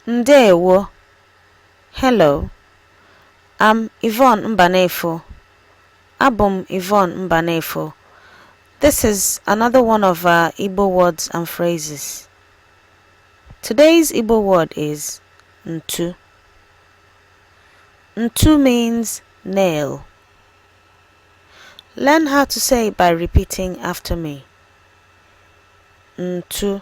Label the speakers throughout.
Speaker 1: Ndewo. Hello. I'm Yvonne Mbanefo. Abụ m Yvonne Mbanefo. This is another one of our Igbo words and phrases. Today's Igbo word is ntu. Ntu means nail. Learn how to say it by repeating after me. Ntu.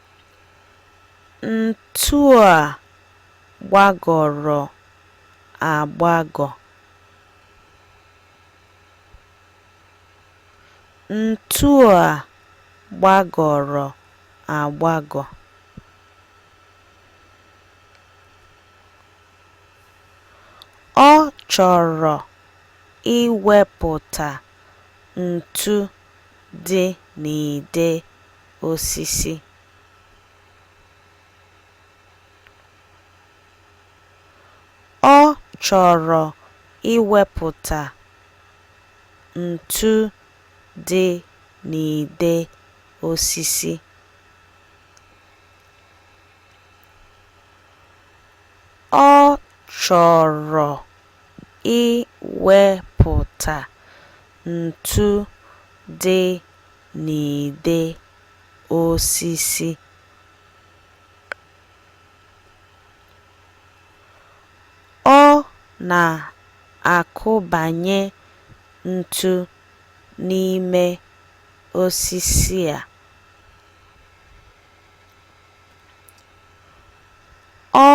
Speaker 1: Ntu a gbagọrọ agbagọ. Ntu a gbagọrọ agbagọ. Ọ chọrọ iwepụta ntu dị n'ide. osisi ọ chọrọ iwepụta ntu dị n'ide osisi ọ chọrọ iwepụta ntu dị n'ide osisi. Ọ na-akụbanye ntu n'ime osisi a. Ọ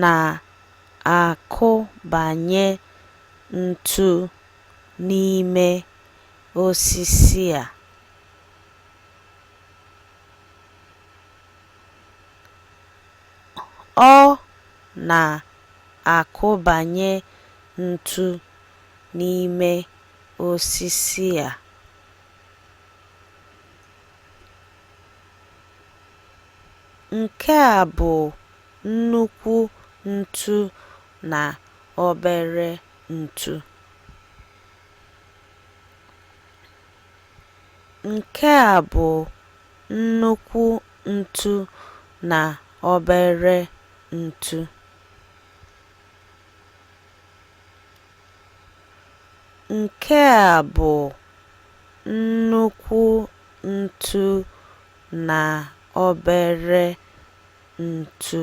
Speaker 1: na-akụbanye ntu n'ime osisi a ọ na-akụbanye ntu n'ime osisi a. Nke a bụ nnukwu ntu na obere ntu. Nke a bụ nnukwu ntu na obere ntu. Nke a bụ nnukwu ntu na obere ntu.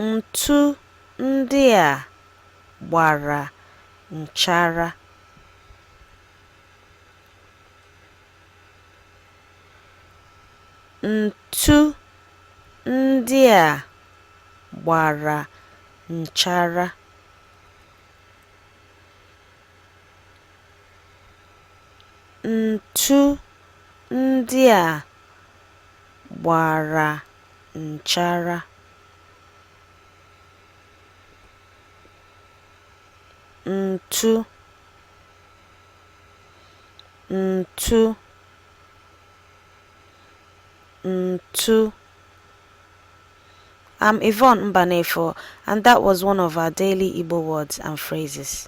Speaker 1: Ntu ndị a gbara nchara. Ntu ndị a gbara nchara. Ntu ndị a gbara nchara ntụ ntụ ntụ I'm Yvonne Mbanefo, and that was one of our daily Igbo words and phrases.